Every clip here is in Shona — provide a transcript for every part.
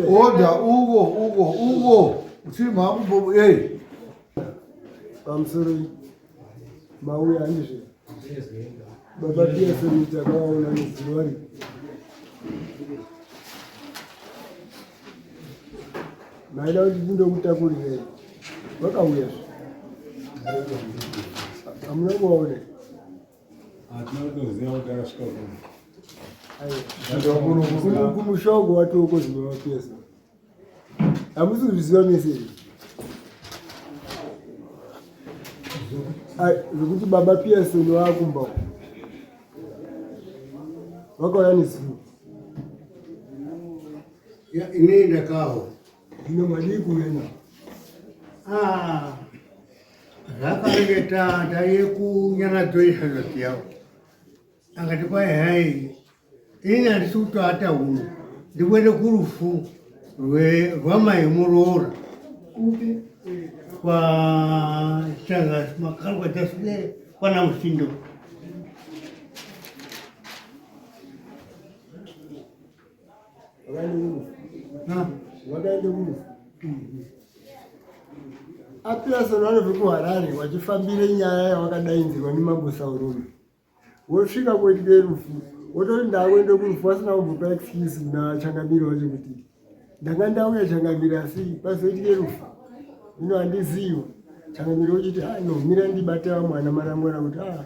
Order, Ugo, Ugo, Ugo. Uchima hapo eh. I'm sorry. Mauya nje. Baba pia sasa nitakuwa unaniziwari. Maida kuti ndindokutakurireyi. Vakauya. Amuna kuona. kumushogo watoko zvinovapesa hamusi kuzviziva mese zvekuti baba piyasoni vakumba vakauya nezivo ini ndakawo Zvino madii kuenda? Ah, zvakange tata yekunyanadzoisa ndosi yavo akati kwai hai ini handisi kutoata huno ndikuende kurufu rwamai muroora kwachanga makarwa chasule kwana musindo Apearson vanobve kuHarare vachifambire nyaya yavakadainzirwa nemambo Saurume wosvika kuitike rufu wototi ndakuende kurufu vasina kumbopa excuse kuna changamiri wacho kuti ndanga ndauya changamiri asi pazoitike rufu ino handizivi changamiri wochiti ah, no mira ndibate vamwana marangwana kuti ah,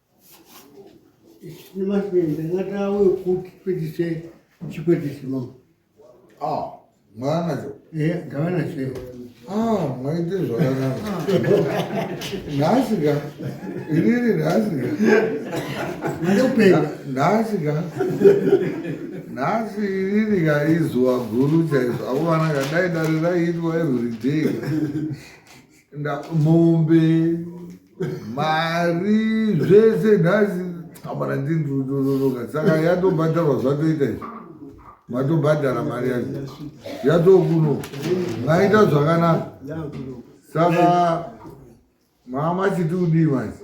Ah, mwanacho. Eh, gavana chero. Ah, mwaite zvakanaka. Nhasi ka. Inini nhasi ka. Mande kupenga. Nhasi ka. Nhasi inini ka izuva guru chaizvo. Akomana ka dai dare raiitwa every day. mombe mari zvese nhasi amana ndindononoka saka yatobhadharwa zvatoita izvi matobhadhara mari yacho yatokuno maita zvakanaka saka mama chiti kudii manje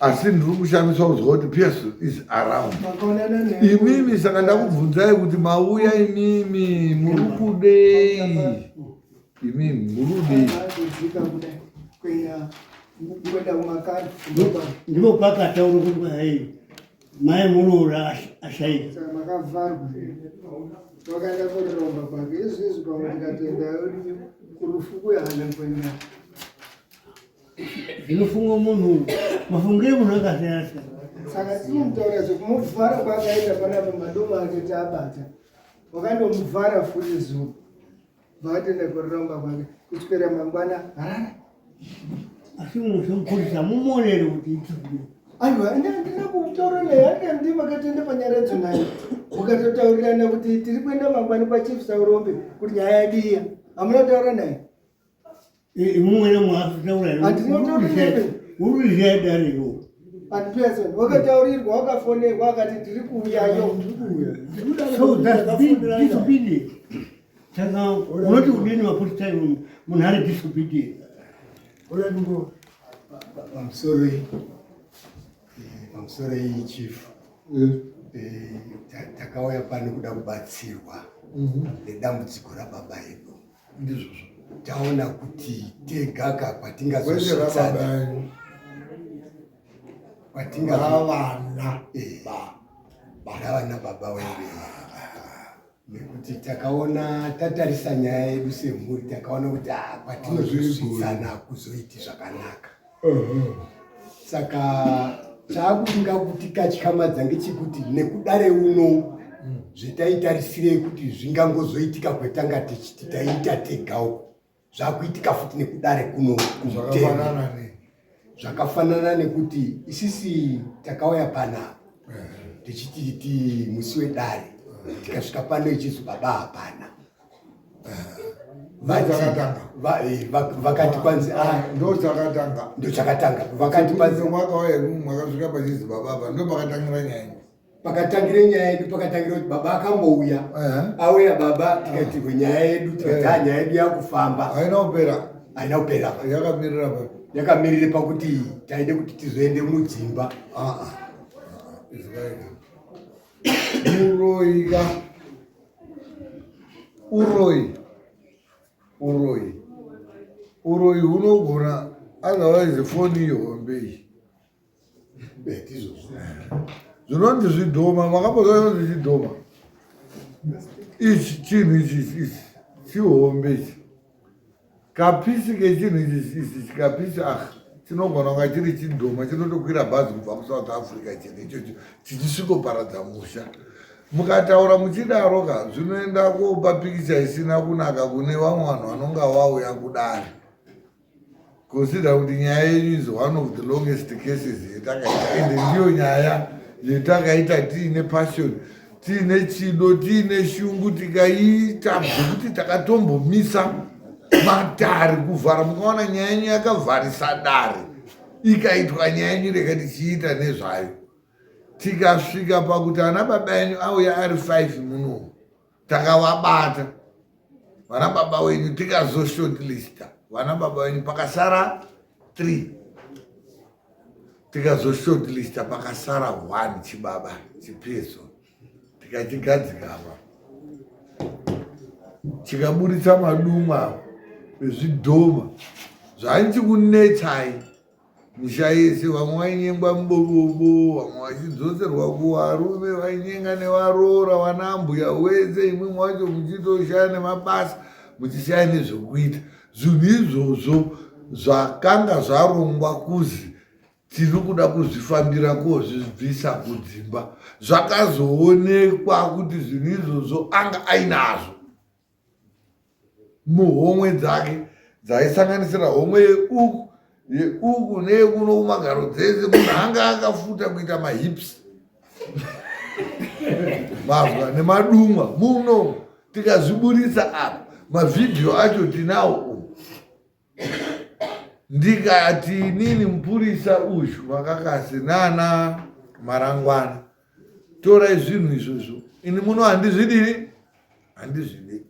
asi ndiri kushamiswa kuzwa kuti pierce is around imimi saka ndakubvunzai kuti mauya imimi muri kudei imimi muri kudei ndipo pakataura kuti hai mai muroora ashaika wakaenda kuriromba kwake izvizvi pamwe ndikatenda kurufu kuyahana kwenda zvinofungwa munhu mafungire munhu akasiyana siyana saka tinomutaura zvekumuvhara kwaakaita panapa madoma ake taabata wakandomuvhara futi zuva vaatenda kuramba kwake kuswera mangwana harara asi munhu zvemukurisa mumonere kuti itii aiwa ndandina kutaura naye andandi makatenda panyaya yadzo naye ukatotaurirana kuti tiri kuenda mangwani kwachief saurombe kuti nyaya yadiya hamuna kutaura naye imumwene mwaatauurauruzhaya dariwo anipesoni wakataurirwa wakafonerwa akati ndiri kuuyayo saka unoti udini mafuti time munhu ari disobedient I'm sorry. Eh, I'm sorry, Chief. Eh. Eh, takauya pano kuda kubatsirwa mhm. nedambudziko rababa edu ndizvozvo taona kuti tegaka kwatingazosvitsana kwatingavana eh. vana baba weve nekuti takaona tatarisa nyaya yedu semhuri takaona kuti ah, kwatinozosvitsana kuzoiti zvakanaka saka chaakuinga kuti katyamadza ngechekuti nekudare uno mm. zvetaitarisirei kuti zvingangozoitika kwetanga tichiti taiita tegawo zvakuitika futi nekudare kuno kumutenga zvakafanana nekuti isisi takauya panapa tichiti ti musi wedare tikasvika pano ichizi baba hapana vakati kwanzi ndochakatanga ndochakatanga vakati kwanzi mwaka waye mwakasvika pachinzi baba apa ndo pakatangira nyaya pakatangire nyaya yedu pakatangira kuti baba akambouya auya baba tikatirwe nyaya yedu tikati ha nyaya yedu yakufamba haina kupera haina kupera yakamirira pa yakamirire pakuti taide kuti tizoende mudzimba izvaika Uroi ka. Uroi. Uroi. Uroi hunogona otherwise foni iyo hombe iyi. Zvinonzi zvidhoma makambozva zvinonzi zvidhoma. Ichi chinhu ichi ichi chihombe ichi. kapisi kechinhu ichi kapisi ah chinogona kunga chiri chidhoma chinotokwira bhazi kubva kusouth africa chinhu ichocho chichisvikoparadza musha mukataura muchidaro ka zvinoenda kopa pikicha isina kunaka kune vamwe vanhu vanonge vauya kudare considera kuti nyaya yenyu is one of the longest cases yetakaita ende ndiyo nyaya yetakaita tiine passion tiine chido tiine shungu tikaita zvekuti takatombomisa matare kuvhara mukaona nyaya yenyu yakavharisa dare ikaitwa nyaya yenyu rega tichiita nezvayo tikasvika pakuti ana baba yenyu auya ari five muno takavabata vana baba wenyu tikazo shortlista vana baba wenyu pakasara three tikazo shortlista pakasara one chibaba chipeso tikachigadzikapa chikaburitsa madumwa ezvidhoma zvainzi kunetsai Mushaisi vamwe vainyengwa mubobobo vamwe vachidzoserwa kuvarume vainyenga nevaroora vanambuya wese imwe mwacho muchitoshaya nemabasa muchishaya nezvekuita zvinhu izvozvo zvakanga zvarongwa kuzi tiri kuda kuzvifambira kozvibvisa kudzimba zvakazoonekwa kuti zvinhu izvozvo anga ainazvo muhomwe dzake dzaisanganisira homwe yeuku yeuku neyekuno kumagaro dzese munhu anga akafuta kuita mahips mazwa nemadumwa muno tikazviburitsa apa mavhidhiyo acho tinawo ndikati inini mupurisa uyu vakakasi nana marangwana torai zvinhu izvozvo ini muno handizvidii handizvidi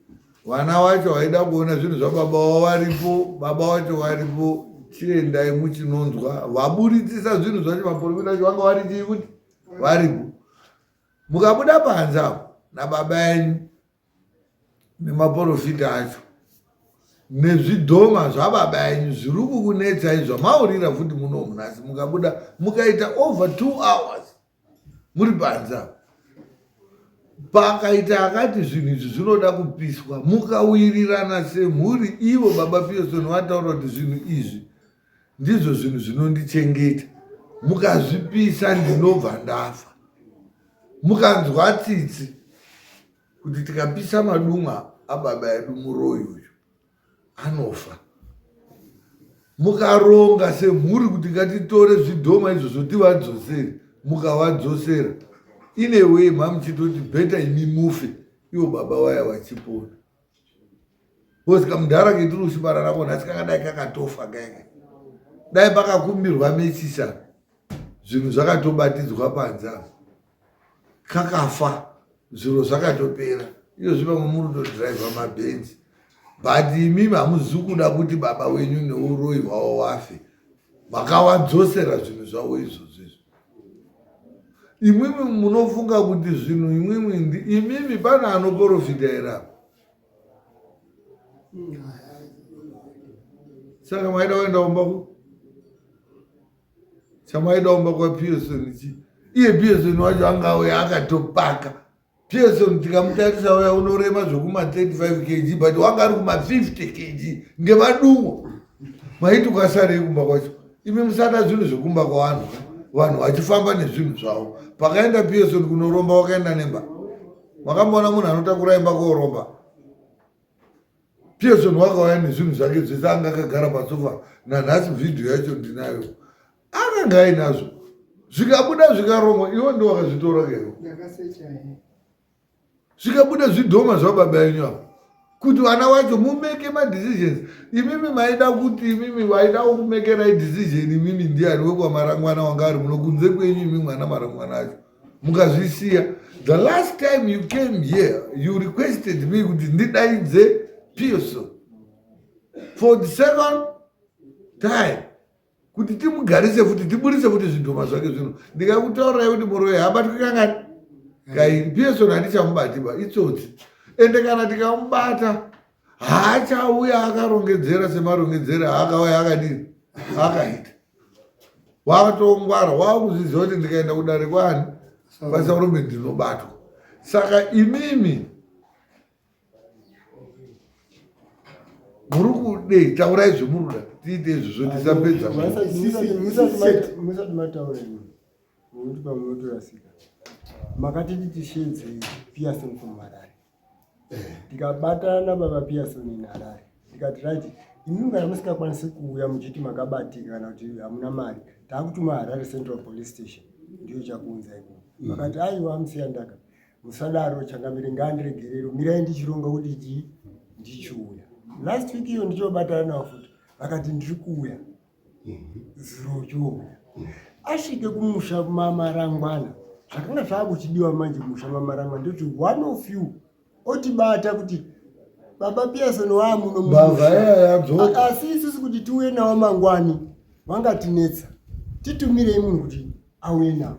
vana wacho vaida kuona zvinhu zvababa wavo varipo baba wacho varipo chiendai muchinonzwa vaburitsisa zvinhu zvacho maporofita acho vanga vari chii kuti varipo mukabuda panze apo nababa enyu nemaporofita acho nezvidhoma zvababa yenyu zviri kukunetsai zvamaurira futi muno munhasi mukabuda mukaita over two hours muri panza pakaita akati zvinhu izvi zvinoda kupiswa mukawirirana semhuri ivo baba piyosoni vataura kuti zvinhu izvi ndizvo zvinhu zvinondichengeta mukazvipisa ndinobva ndafa mukanzwa tsitsi kuti tikapisa madumwa ababa edu muroyi uyu anofa mukaronga semhuri kuti ngatitore zvidhoma izvozvo tivadzosere mukavadzosera ineway mamuchitoti bheta imi mufe ivo baba waya vachipona kozi kamudhara ketirusi bara rako nhasi kakadai kakatofa kaika dai pakakumbirwa mechisa zvinhu zvakatobatidzwa panze apo kakafa zviro zvakatopera iyo zvi vamwe muri todriva mabhenzi but imi hamuzi kuda kuti baba wenyu neuroyi hwawo wafe makawadzosera zvinhu zvavo izvozvo izvo imwimwi munofunga kuti zvinhu imwimwi ndi imimi pana anoporofita here apa saka maida kuenda kumba ku chamaida kumba kwapiesoni chi iye piesoni wacho anga auya akatopaka Pearson ndikamutarisa uya unorema zvekuma 35 kg but wanga ari kuma 50 kg ngemadumo maiti ukasarei kumba kwacho imi musada zvinhu zvekumba kwavanhu vanhu vachifamba nezvinhu zvavo pakaenda pearson kunoromba wakaenda nemba makamboona munhu anotakura imba koromba pearson wakauya nezvinhu zvake zvese anga akagara pasofa nanhasi vhidhiyo yacho ndinayo anenge ainazvo zvikabuda zvikaromwa iwo ndo wakazvitora keo zvikabuda zvidhoma zvababa yenyu avo kuti vana wacho mumeke madecisions imimi maida kuti imimi vaida kumekerai decision imimi ndiani wekwamarangwana wanga ari muno kunze kwenyu imi mwana marangwana acho mukazvisiya the last time you came here you requested me kuti ndidaidze pearson for the second time kuti timugarise futi tiburitse futi zvidhoma zvake zvino ndikakutaurirai kuti muroyi haabatwi kangani kai piyesoni handichamubatiba itsotsi ende kana tikamubata haachauya akarongedzera semarongedzera aakauya akadii akaita wakatongwara wakuzviziva kuti ndikaenda kudare kwani kwasarume ndinobatwa saka imimi muri kudei taurai zvemuruda tiite izvi zvondisapedza makatiti tishinzi piason from harare tikabatana baba piason in harare tikati right imi kana musikakwanisi kuuya muchiti makabatika kana kuti hamuna mari taakutuma harare central police station ndiyo chakuunza ikoko vakati aiwa musiyandaka Musadaro changamire ngandiregerero mirai ndichironga kuti chii ndichiuya. Last week iyo ndichobatana navo futi vakati ndiri kuuya zuro chouya. Asvike kumusha mamarangwana zvakanga zvakuchidiwa manje musha mamarangwana ndoti one of you otibata kuti baba Pearson wamuno mumusha asi isusu kuti tiuye nawo mangwani vangatinetsa titumirei munhu kuti auye nawo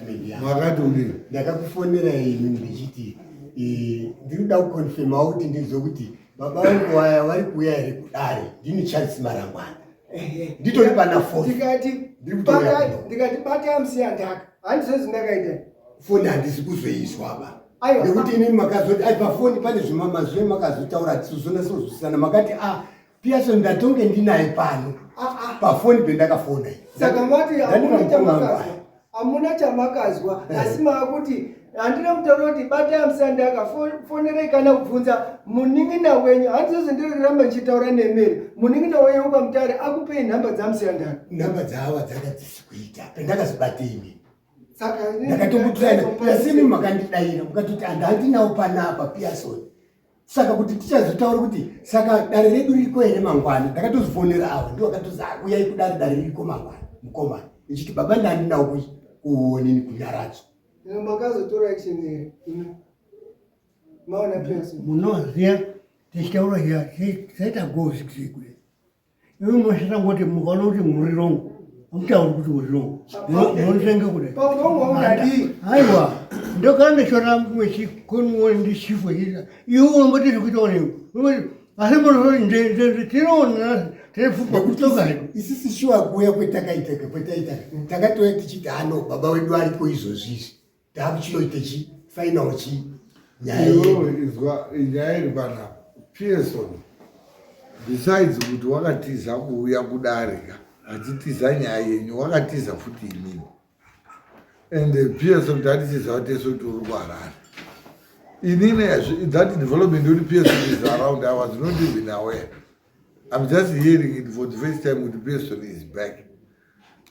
makati uri ndakakufonera imi ndichiti eh, ndinoda kukonfirma kuti ndinzwe kuti baba vangu vaya vari kuuya here kudare ndini charles marangwana nditori pana fotikatibata bata msiya ndaka handizvezi ndakaita foni handisi kuzoizwa ba nekuti ini makazoti ai pafoni pane zvimamazve makazotaura tisozonasozwisana makati a ah, Pearson ndatonge ndinaye pano ah, ah. pafoni pendakafona saka mati hamuna chamakazwa hamuna chamakazwa eh. asi maakuti handina kutaura kuti batai amusandi aka fonerei kana kubvunza munin'ina wenyu handizozi ndiriramba ndichitaura nemeri munin'ina wenyu ukamutare akupei nhamba dzamusandi aka nhamba dzaava dzanga dzisi kuita pendakazibatei ndakatokutirana asi imi makandidaira mukatoti handandinawo panapa pearson saka kuti tichazotaura kuti saka dare redu ririko here mangwana ndakatozifonera avo ndo vakatozi ah, uyai kudare dare ririko mangwana mukomana ichiti baba ndandinawo kuonini kunyaradzo makazotora action here maona pesa munoziva tichitaura here zvaita go zvikisekule Iwe mwashita ngoti mukaona kuti muri wrong. Mtauri kuti muri wrong. Munotenge kude. Pauno ungadii? Aiwa. Ndokana ndishora mwe chikunu wani ndi chifu hira. Iwe unomboti zvikuita wani. Unomboti asi munoona nde nde nde tinoona tefupa kutoka hedu. Isisi shuwa kuya kwetakaitaka kwetaitaka. Takatoya tichiti hano baba wedu aripo izvozvizvi. Takuchinoita chi final chi nyaya izwa nyaya iri pana Pearson besides kuti wakatiza kuuya kudarika achitiza nyaya yenyu wakatiza futi imini and eh, Pearson tatitiza wateso kuti uri kuharara inini that development uri Pearson is around I was not even aware I'm just hearing it for the first time with Pearson is back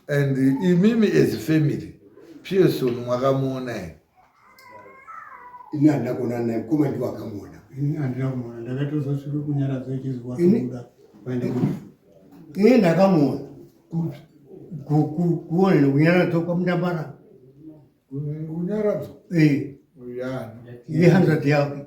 and imimi as family pearson mwakamuona here ini handina kuona naye mkoma ndiwo akamuona ini handina kumuona ndakatozosvika kunyaradza ichizwa kuda ini ndakamuona kuone nekunyaradzwa kwamudambara kunyaradzwa eh. yehanzvadzi yake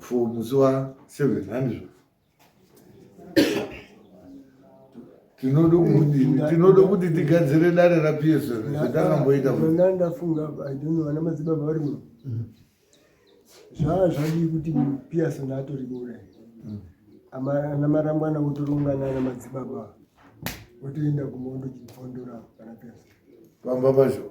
for musi wa 7 handizvo tinoda kudini tinoda kuti tigadzire dare ra psl zvatangamboita ona ndafunga idonno vana madzibaba vari muno mm. zvaa zvadii kuti psl atori kuuraya mm. ana marambwana votorongana ana madzibaba votoenda kumondo chifondora kana psl pamba pacho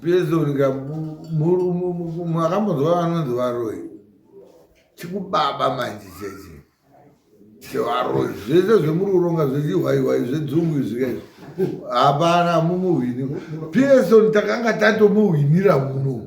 Pezorika makambonzwa vanonzi varoyi chikubaba manje cheche chevaroyi zvese zvemuri kuronga zvechiwaiwai zvedzungu izvika izvi hapana mumuhwini pearson takanga tatomuhwinira muno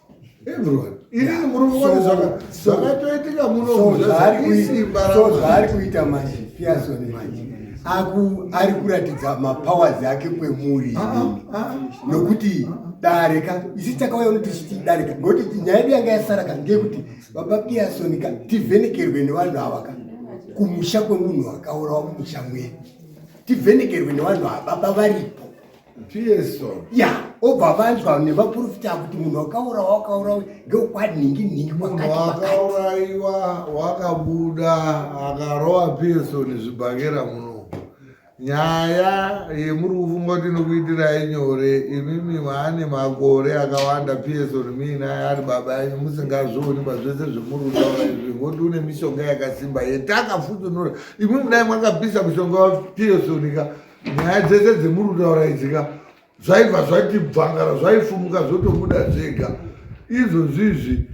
zvaari kuita manje piasoni manje ari kuratidza mapowers ake kwemuri ah, ah, ah, nokuti dare ka isi takauya unoti chiti dare ka ngokuti nyaya yedu yanga yasara ka ngeyekuti baba piasoni ka tivhenekerwe nevanhu ava ka kumusha kwemunhu akaurawa mumusha mwedu tivhenekerwe nevanhu ava baba varipo ya obva vanzwa nevaprofita kuti munhu wakaurawa wakaurawa ngeukwadninginingi wakaurayiwa wakabuda akarowa piesoni zvibhakera muno nyaya yemuri kufunga kuti inokuitirai nyore imimi maane makore akawanda piesoni miinaye ari baba yenyu musingazvioni pazvese zvemuri kutaura izvi ngoti une mishonga yakasimba yetakafutunura imimi dai mwakapisa mushonga wapiesoni ka nyaya dzese dzemuri kutaura idzika zvaibva zvati bvangara zvaifumuka zvotobuda zvega izvo zvizvi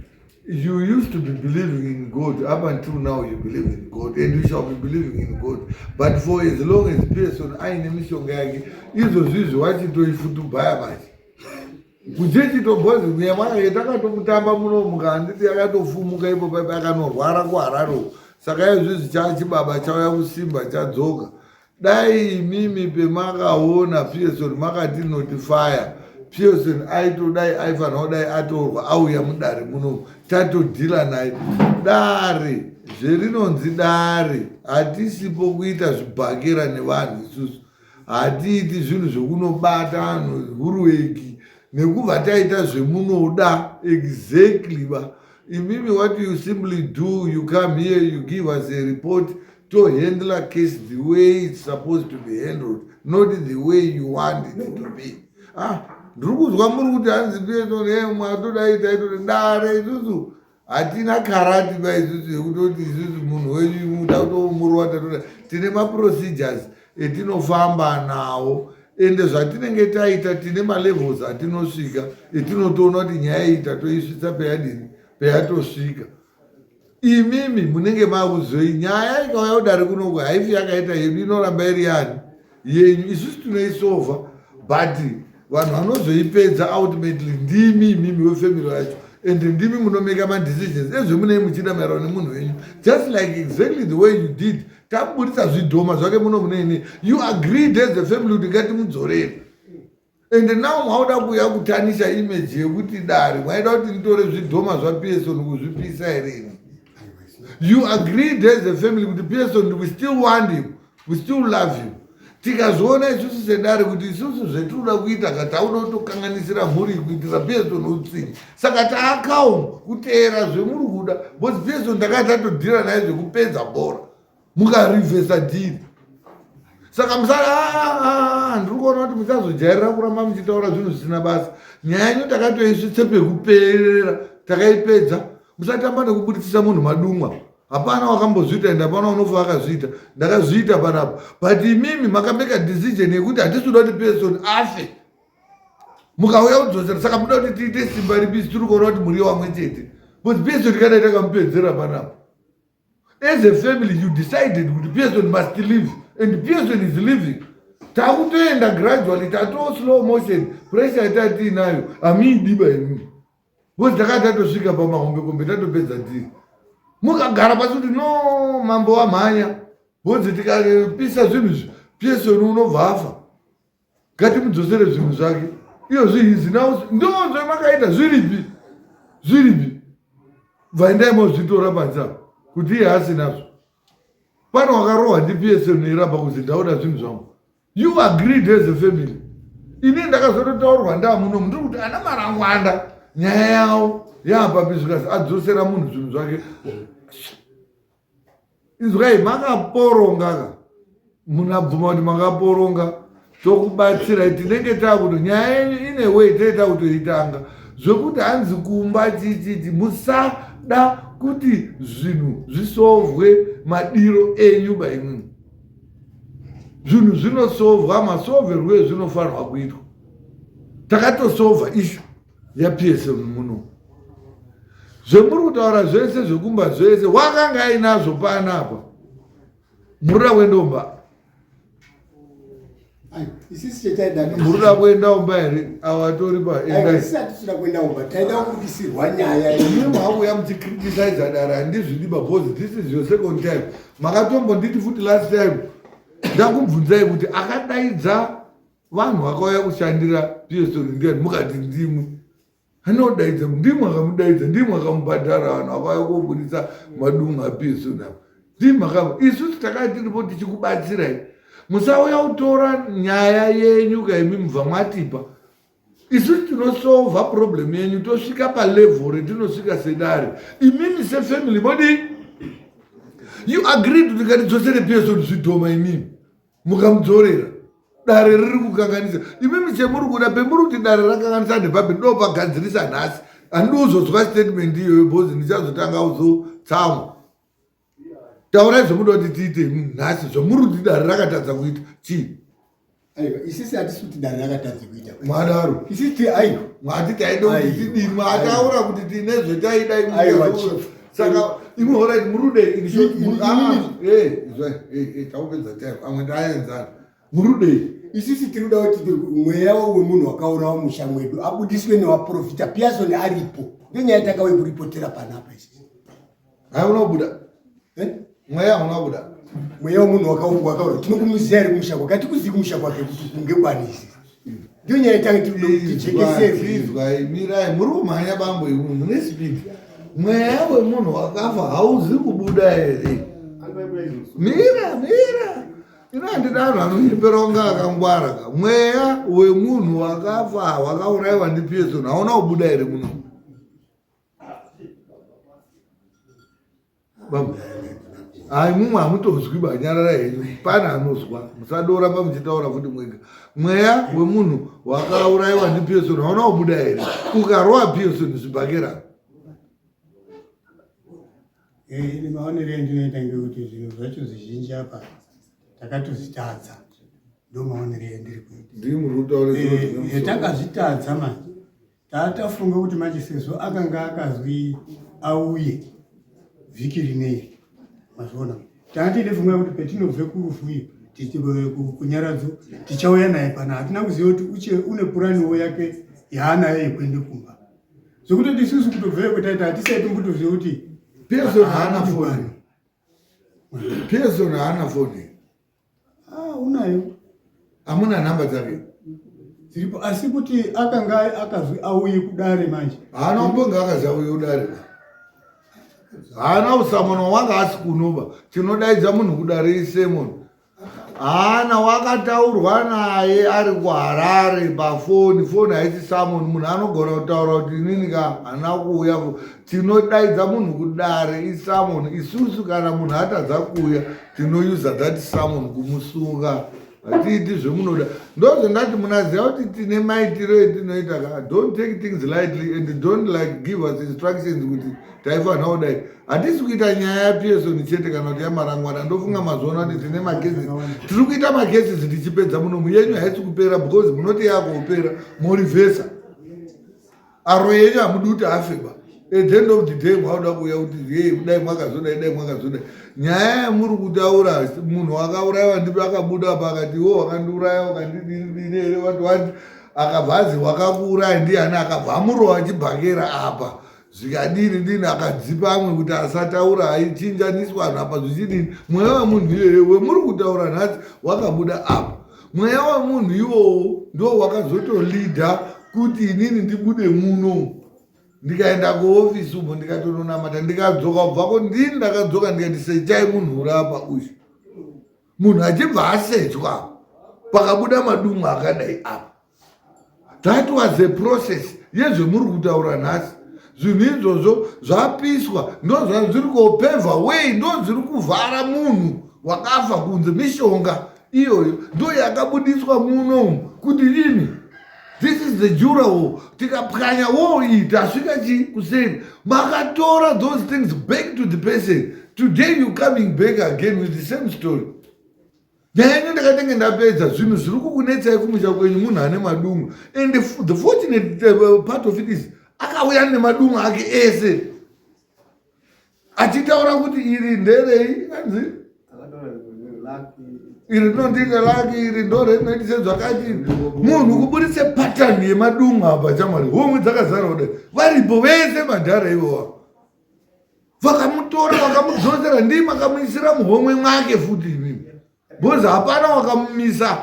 you used to be believing in god up until now you believe in god and you shall be believing in god but for as long as person aine mishonga yake izvo zvizvi wachitoifutubhaya manje kuchechitobhozi mweya mwake takatomutamba muno mukanditi yakatofumuka ipo paipa akanorwara kuhararo saka izvizvi chachibaba chauya kusimba chadzoka dai imimi pemakaona pearson makati notifaya pearson aitodai aifanira kudai atorwa auya mudare muno tatodhila naye dare zverinonzi dare hatisipo kuita zvibhakera nevanhu isusu hatiiti zvinhu zvekunobata vanhu hurueki nekuva taita zvemunoda exactly ba imimi what you simply do you come here you give us a report to handle a case the way it's supposed to be handled not the way you want it to be ah ndiri kunzwa muri kuti hanzi petonhemwa todai taitoti dare isusu hatina karati ba isusu yekutoti isusu munhu wenyu muda kutomurwa tatoda tine maprocedures etinofamba nawo ende zvatinenge taita tine malevels atinosvika etinotoona kuti nyaya iyi tatoisvitsa peyadini peyatosvika imimi munenge mavuzoi nyaya ikauya kudare kunoku haifi yakaita yedu inoramba iri yani yenyu isusu tinoisova but vanhu vanozoipedza ultimately ndimi imimi wefamily yacho and ndimi munomeka madecisions ezvemunei muchiita maerano nemunhu wenyu just like exactly the way you did taburitsa zvidhoma zvake muno muneine you agreed as a family kuti ngatimudzorere ende now mauda kuuya kutanisha image yekuti dare mwaida kuti nditore zvidhoma zvapearson kuzvipisa here ini you agreed as a family kuti pearson we still want him we still love him tikazoona isusu sedare kuti isusu zvetinoda kuita ka tauda kutokanganisira mhuri kuitira pearson utsini saka taakaum kuteera zvemuri kuda bcause pearson takati tatodhira naye zvekupedza bhora mukarivhesa dhiri saka musaa ah, ah, ah, ndiri kuona kuti muchazojairira kuramba muchitaura zvinhu zvisina basa nyaya yenyu takatoisvitse pekuperera takaipedza musatamba nekubuditsisa munhu madumwa hapana wakambozviita ende hapana unofa akazviita ndakazviita panapa but imimi makameka decision yekuti hatisi kuda kuti person afe mukauya kudzosera saka muda kuti tiite simba ripi tiri kuona kuti muri wamwe chete but person kana itakamupedzera panapa as a family you decided kuti pearson must live and pearson is living takutoenda gradually tato slow motion pressure yatanga tiinayo hamiidiba imi bcause takanga tatosvika pamahombekombe tatopedza tii mukagara pasi kuti no mambo wamhanya bcause tikapisa zvinhu izvi pearson unobva afa ngatimudzosere zvinhu zvake iyo zvihizi nao ndonzve makaita zviripi zviripi bvaendai mozvitora panze apa kuti iye asinazvo pane wakarohwa ndipsn iramba kuti ndaoda zvinhu zvangu you agreed as a family ini ndakazototaurwa ndamuno mundiri kuti ana marangwanda nyaya yavo yaapapizvikasi adzosera munhu zvinhu zvake inzwai makaporongaka munhu abvuma kuti makaporonga tokubatsirai tinenge takuto nyaya yenyu ine wei tinenge takutoitanga zvekuti hanzi kumba chichiti musada kuti zvinhu zvisovwe madiro enyu baimwi zvinhu zvinosovwa masoverwo ezvinofanirwa kuitwa takatosovha ishu yaPSM muno zvemuri kutaura zvese zvekumba zvese wakanga ainazvo paana apa murira kuenda umba murira kuenda umba here awatori paendaiauya muchicriticize dara handizvidi babozi this is your second time makatombonditi futi last time ndakubvunzai kuti akadaidza vanhu vakauya kushandira pso ndiani mukati ndimwe anodaidza ndimwe akamudaidza ndimwe akamubhadhara vanhu vakauya koburitsa madunga pso navo ndimwe akam isusu takaa tiripo tichikubatsirai musauya kutora nyaya yenyu kaimi mubva mwatipa isusu tinosova problem yenyu tosvika palevel retinosvika sedare imimi sefamily modi you agreed kuti ngatidzosere pso zvidhoma imimi mukamudzorera dare riri kukanganisa imimi chemuri kuda pemuri kuti dare rakanganisa nepapi ndopagadzirisa nhasi handidi kuzozwa statement iyoyo bhozi ndichazotanga kuzotsamwa taurai zvomuda kuti tiite nhasi zvomuri kuti dare rakatadza kuita chii aiwa isisi hatisi kuti dare rakatadza kuita mwadaro isisi aiwa mwati taida kuti tidini mwataura kuti tine zvetaida imwe saka imwe horaiti murude taupedza time amwe ndaaenzana murudei isisi tiri kuda kuti mweya wemunhu wakaurawa musha mwedu abudiswe newaprofita piasoni aripo ndenyaya takauye kuripotera panapa isisi hauna kubuda eh? Mweya hauna kubuda. Mweya wemunhu wakaungwa akaura tinokumuzia iri kumusha kwake hatikuzivi kumusha kwake kuti kunge kwani izvi. Ndiyo nyaya itange tijekeseizwai mirai muri kumhanya bambo imu mune spidi. Mweya wemunhu wakafa hauzi kubuda here? Mira mira inandida anhu anonyeperonga akangwara ka mweya wemunhu wakafa wakaurayiwa ndipeson hauna kubuda here muno hai mumwe hamutonzwi ba nyarara henyu pana anozwa musadora pamuchitaura futi mwega mweya wemunhu wakaurayiwa ndipearson hauna kubuda here ukarowa pearson zvibhakera eh, maonero endinoita ngekuti zvinhu zvacho zvizhinji apa takatozvitadza ndo maonero endiri kuita ndimuri kutaura eh, eh, takazvitadza manje Taatafunga kuti manje sezvo akanga akazwi auye vhiki rinei mazviona taatiine funga kuti petinobve kurufu iyo kunyaradzo tichauya naye pana hatina kuziva kuti uche une puraniwo yake yaanayo yekuende kumba zvekutoti isusu kutobveyo kwetaita hatisai tombotoziva kuti pezon haana foni pezon haana foni Ah, unayo. Hamuna nhamba dzake. Dziripo asi kuti akanga akazwi auye kudare manje. Haana kumbonga akazi auye kudare. Haana usamona wanga asi kunoba. Tinodaidza munhu kudare isemon. Haana wakataurwa naye ari kuHarare pafoni. Foni haisi samon munhu anogona kutaura kuti inini ka hana kuuya tinodaidza munhu kudare isamon isusu kana munhu atadza kuuya tinousa that samon kumusunga hatiiti zvemunoda ndozvendati munaziva kuti tine maitiro etinoita ka don't take things lightly and don't like give us instructions kuti taifanira kudai hatisi kuita nyaya yapearson chete kana kuti yamarangwana ndofunga mazuva ano kuti tine makesis tiri kuita makesis tichipedza munomu yenyu haisi kupera because munoti yakupera morivhesa Aroyi enyu hamudi kuti afe ba. At the end of the day mwaoda kuuya kuti hey kudai mwakazodai dai mwakazodai. Nyaya yamuri kutaura munhu wakaurayiwa ndipi akabuda apa akati wo wakandiuraya wakandidini here wati wati akabva azi wakakuuraya ndiani akabva amurowa chibhakera apa zvikadini dini akadzipa amwe kuti asataura aichinjaniswa anhu apa zvichidini mweya wemunhu iyeye wemuri kutaura nhasi wakabuda apa mweya wemunhu iwowo ndo wakazotolidha kuti inini ndibude muno ndikaenda kuofisi umo ndikatononamata ndikadzoka kubvako ndini ndakadzoka ndikati sechai munhu urapa uyu munhu achibva asechwa pakabuda madumwa akadai apa that was a process yezvemuri kutaura nhasi zvinhu izvozvo zvapiswa ndozva zviri kopevha wei ndo zviri kuvhara munhu wakafa kunze mishonga iyoyo ndo yakabudiswa munomu kuti ini this is the jura wo tikapwanya wo iyi tasvika chi kuseni makatora those things back to the person today you coming back again with the same story nyaya ino ndakatenge ndapedza zvinhu zviri kukunetsai kumusha kwenyu munhu ane madungu and the fortunate uh, part of it is akauya nemadungu ake ese achitaura kuti iri nderei anzi iri rinondiita laki iri ndorinoitise zvakati munhu kuburitse patani yemadungu apa chamwari homwe dzakazara kudai varipo vese madhara ivowa vakamutora vakamudzosera ndii makamuisira muhomwe mwake futi imimi bhozi hapana wakamumisa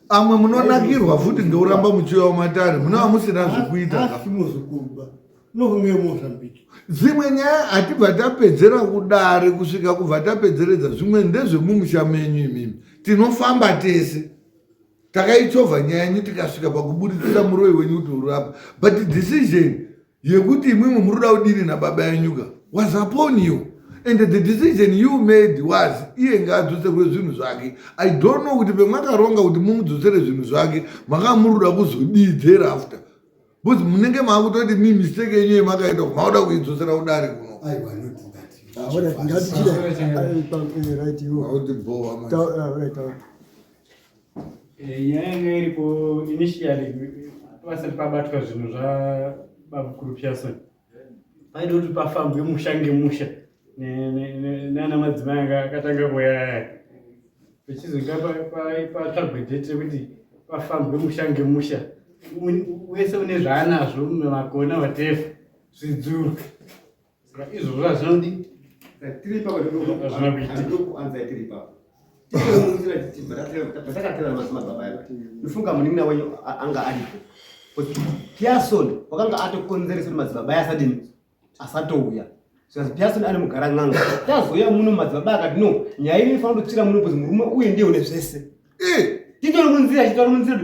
amwe munonakirwa futi ndouramba muchiuya wamatare munova musina zvekuita dzimwe nyaya hatibva tapedzera kudare kusvika kubva tapedzeredza zvimwe ndezvemumusha menyu imimi tinofamba tese takaichovha nyaya yenyu tikasvika pakuburitsira muroi wenyu kuti uri apa but decision yekuti imwimwe muri kuda kudini nababa yenyuka was upon you and the decision you made was iye ngaadzoserwe zvinhu zvake i don't know kuti pemwakaronga kuti mumudzosere zvinhu zvake makava muri kuda kuzodii thereafter bcause munenge maakutoti mi mistake yenyu yemakaita makuda kuidzosera kudari kuno ah, Eh, nyaya yanga iripo initially vasati pabatwa zvinhu zvababukuru pearson paida kuti pafambwe musha ngemusha nana madzimai anga akatanga kuyaya vechizonga patsvagwe date rekuti pafambwe musha ngemusha wese une zvaanazvo makona watefa zvidzurwe Saka izvozvo hazvinodi. Tiri ipapo zvinokuanza tiri ipapo. Patakatera madzimadzibaba aya. Ndofunga munin'ina wenyu anga aripo. Pearson wakanga atokonzeresa kuti madzibaba aya asadini asatouya. Saka Pearson ari mugara n'anga. Tazouya muno madzibaba akati no nyaya ino inofanira kutochira muno kuti murume uye ndiye une zvese. Eh! Titori munzira titori munzira.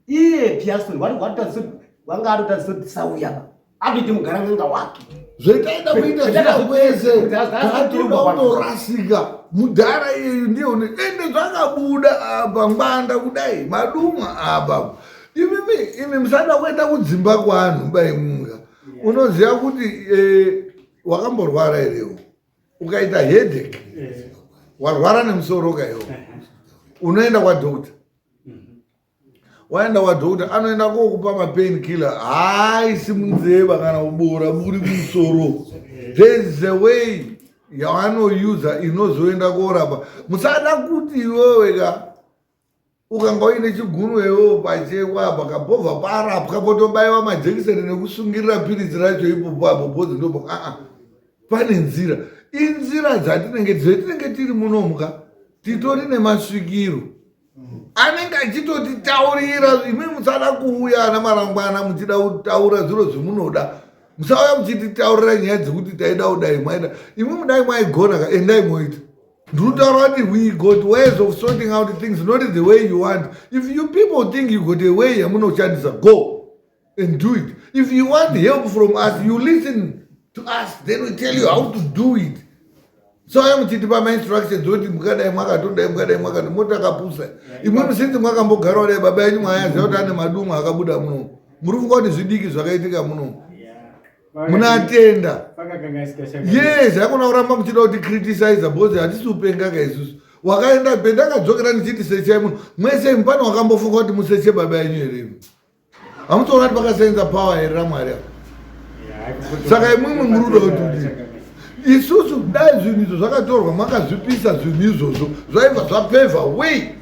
Iye Pearson wari watadzisa wanga atotadzisa kuti tisauya apa. akuite mugaranganga wake zvetaida kuita zvita kwese taatoda kutorasika mudhara iyeyu ndiye une ende zvakabuda apa ngwanda kudai maduma apa imimi imi musada kuenda kudzimba kwanhu baimunga unoziva kuti eh, wakamborwara irewo ukaita hedek eh. warwara nemusoro kaiwo eh. unoenda kwadokta waenda kwadhokota anoenda kokupa mapain killer haaisi munzeva kana kuboora buri kumusoro there's a way yavanoyuza inozoenda korapa musada kuti iwewe ka ukanga uine chigunwe iwewo pachekwa apa kabhovha parapwa potobaiwa majekiseni nekusungirira piritsi racho ipopo apo bhozi ndopo aa pane nzira inzira dzatinenge dzetinenge tiri munomuka titori nemasvikiro anenge achitotitaurira imwe musada kuuya ana marangwana muchida kutaura zviro zvimunoda musauya muchititaurira nyaya dzekuti taida kudai mwaida imwe mudai mwaigona ka endai moita ndinotaura kuti we got ways of sorting out things not the way you want if you people think you got a way yamunoshandisa go and do it if you want help from us you listen to us then we tell you how to do it so aya muchitipa mainstructions oti mukadai mwakatodai mukadai mwakati motakapusa imwe musinzi mwakambogarawo dai baba yenyu mwayaziva kuti ane madumwa akabuda muno muri funga kuti zvidiki zvakaitika muno munatenda yes hakuna kuramba muchida kuti criticize bcause hatisi upengaka isusu wakaenda pendakadzokera ndichiti sechai munhu mwese mupani wakambofunga kuti museche baba yenyu here Hamutoona kuti vakasenza power here ramwari avo. Saka imwimwi muri kuda kuti kudii? Isusu dai zvinhu izvo zvakatorwa makazvipisa zvinhu izvozvo zvaibva zvapevha wei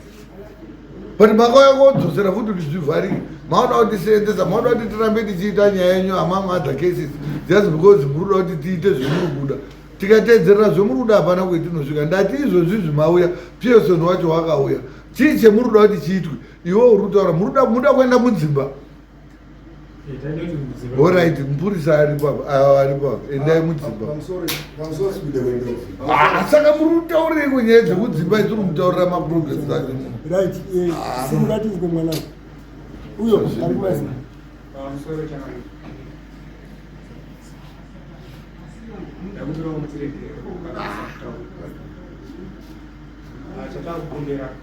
but makauya kodzosera futi kuti zvivharike maoda kuti tiseenzesa maoda kuti tirambe tichiita nyaya yenyu among other cases just because muri kuda kuti tiite zvemuri kuda tikateedzerera zvemuri kuda hapana kwetinosvika ndati izvozvi zvimauya pearson wacho wakauya chii chemuri kuda kuti chiitwe iwe uri kutaura munoda kuenda mudzimba orit mupurisa aripaaripa endai mudzimba saka muri kutaurei kwenyaya dzekudzimba tiri mutaurira maprogress achosimungatidzwe mwana uyo ari mai Ah, já está o Bundeira.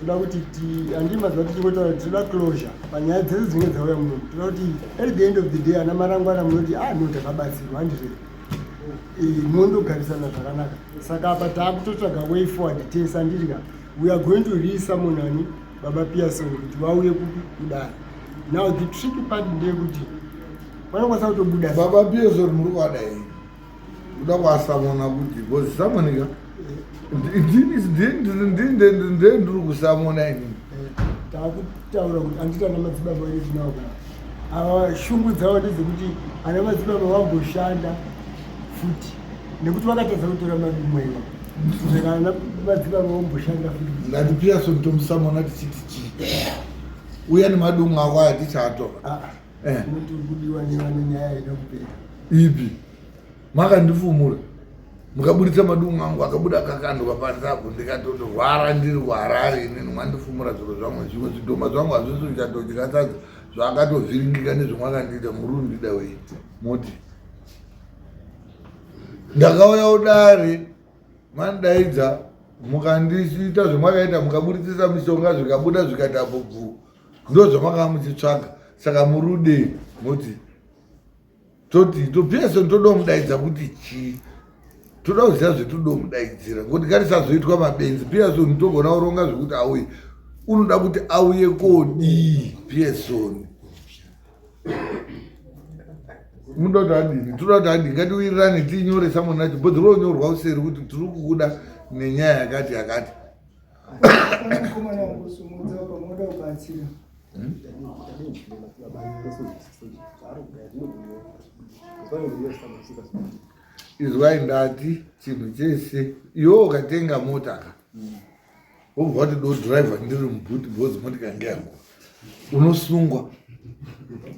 toda kuti andii mazuva tichingotaura tinoda closure panyaya dzese dzinenge dzauya muno toda kuti at the end of the day ana marangwana munoti a ah, no takabatsirwa handizve eh, mondogarisana zvakanaka saka apa taakutotsvaga way forward tese andirika we are going to resamonani baba pearson kuti vauye kupi kudai now the tricky part ndeyekuti vanokwanisa kutobuda baba pearson muri kuvada hei kuda kwasamona kuti bcoz samonika ndee ndiri kusamona inini takutaura kuti andita ana madzibaba vedu tinao kana ava shungu dzavo ndedzekuti ana madzibaba vamboshanda futi nekuti vakatadza kutora mari mwewa saka ana madzibaba vamboshanda futi ndati piason tomusamona tichiti chii uya nemadungu ako aya tichatora ah, ah. Eh. Muti uri kudiwa nevane nyaya ida kupera. Ipi. Makandifumura. Mukaburitsa madungu angu akabuda akakanduka panze apo ndikatotorwara ndiri kuharare inini mwandifumura zviro zvangu zvimwe zvidhoma zvangu hazvisi kuchatodya sadza zvaakatovhiringika nezvemwakandiita muri undida wei moti ndakauya udare mandaidza mukandiita zvemwakaita mukaburitsisa mishonga zvikabuda zvikati apo bvuu ndozvamakanga muchitsvaga saka murude moti toti topese toda kumudaidza kuti chii toda kuziva zvetoda kumudaidzira ngokuti ngatisazoitwa mabenzi piasoni togona kuronga zvekuti auye unoda kuti auye kodii piasoni munoda kuti adini tinoda kuti adini ngatiwirirane tiinyore samonacho bhodhiro onyorwa useri kuti tiri kukuda nenyaya yakati yakati Mukomana wangu sumudza pamoda kubatsira. Izwai ndati chinhu chese iwe ukatenga mota ka wobva wati do driver ndiri mubuti bhozi moti kange yangu unosungwa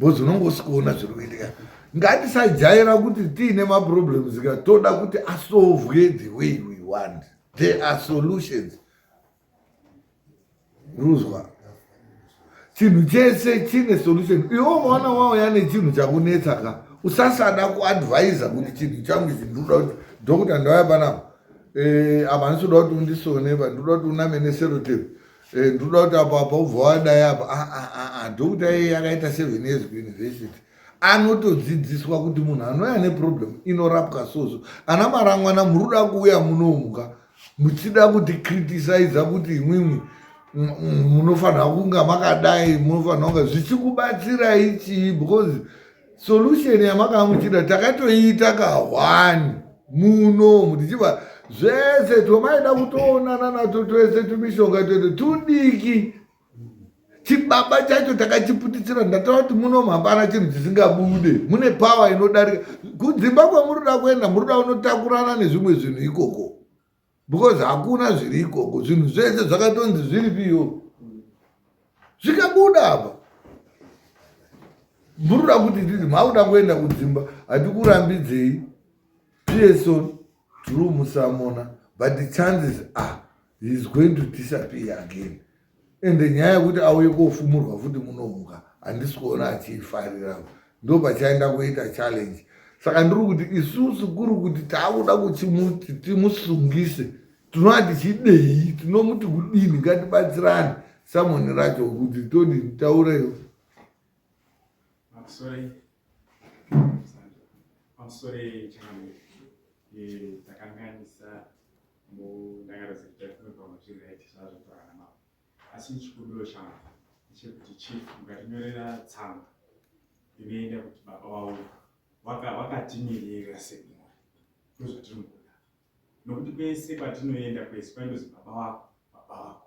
bhozi unonge usikuona zviri kuitika ngatisajaira kuti tiine maproblems ka toda kuti asovwe the way we want There are solutions. Ruzwa. Chinhu chese chine solution. Iwo mwana wawo yane chinhu chakunetsa ka. Usasada kuadvisa kuti chinhu changu ichi ndoda kuti doctor ndauya panapa. Eh apa ndisoda kuti undisone pa ndoda kuti uname neserotape. Eh ndoda kuti apa apa ubva wadai apa. Ah ah ah doctor yeye yakaita 7 years kuuniversity. anotodzidziswa kuti munhu anouya neproblem inorapwa soso ana marangwana muri kuda kuuya munomuka muchida kuti criticise kuti imwimwi munofanira kunga makadai munofanira kunga zvichikubatsirai chii because solution yamakanga muchida takatoiita kahwani munomu tichiva zvese tomaida kutoonana nato twese tumishonga twete tudiki chibaba chacho takachiputitsira ndatava kuti munomu hapana chinhu chisingabude mune pawa inodarika kudzimba kwamuri da kuenda muri da unotakurana nezvimwe zvinhu ikoko because hakuna zviri ikoko zvinhu zvese zvakatonzi zviri piyo zvikabuda apa muri da kuti titi makuda kuenda kudzimba hatikurambidzei pso true musamona but chances are he is going to disappear again ende nyaya yekuti auye kofumurwa futi munomuka handisi kuona achiifarira ndo pachaenda kuita challenge saka ndiri kuti isusu kuri kuti taakuda kuti timusungise tinova tichidei tinomuti kudini ngatibatsirane samoni racho kuti todi taureyo pamusoro yechangamire takanganisa mundangariro dzekuti taifunga kuti vamwe zviri right zvazvo torana mavo asi chikumbiro changu chekuti chief mukatinyorera tsamba inoenda kuti baba wavo wakatimirira sekumori ndozvatiri mukuda nokuti kwese kwatinoenda kwese kwaindozi baba wako baba wako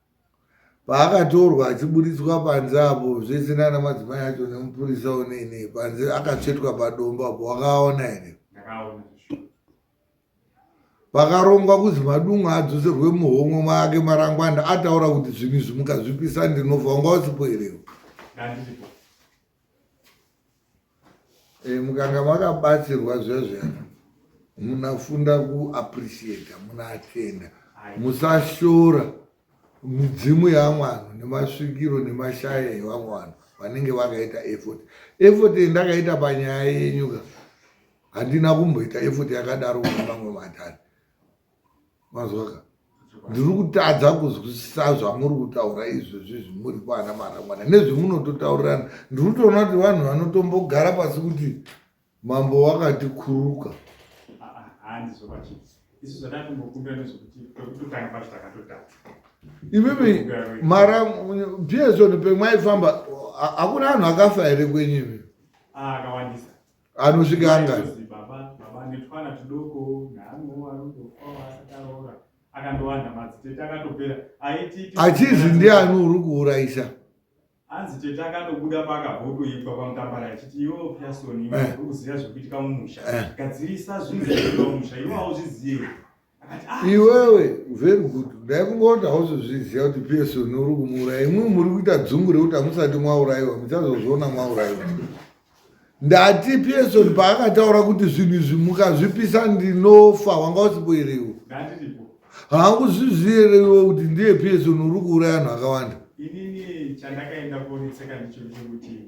Paakatorwa achiburitswa panze apo zvese nana madzimai acho nemupurisa unei nei panze akatsvetwa padombo apo wakaona here? Pakarongwa kuzi madunga adzoserwe muhomwe make marangwana ataura kuti zvinhu izvi mukazvipisa ndinofa wanga usipo here? Eh, mukanga makabatsirwa zvezvena munafunda kuappreciata munaatenda musashora midzimu yamwana nemasvikiro nemashaya evamwe vanhu vanenge vakaita effort effort yendakaita panyaya yenyuka handina kumboita effort yakadaro kune mamwe matari mazwaka ndiri kutadza kuzwisisa zvamuri kutaura izvezvi zvimuri kwana marangwana nezvemunototaurirana ndiri kutoona kuti vanhu vanotombogara pasi kuti mambo wakati kuruka imimi mara bsoni pemwaifamba hakuna anhu akafa here kwenyu imi ah, anosvika angani achizi ndiani uri kuurayisa hanzi tete akatobuda paakabhotoitwa pamutambara achiti iwe pyasoni eh. uri kuziva zvekuitika mumusha eh. gadzirisa zvinhu zvekuitika mumusha iwe hauzvizive iwewe very good dai kungoona hauzozviziva kuti pso nuri kumuuraya imwe muri kuita dzungu rekuti hamusati mwaurayiwa muchazozviona mwaurayiwa ndati pso paakataura kuti zvinhu izvi mukazvipisa ndinofa wanga usipoerewo haakuzviziverewo kuti ndiye pso nuri kuuraya anhu akawanda inini chandakaenda kuonetseka ndicho chekuti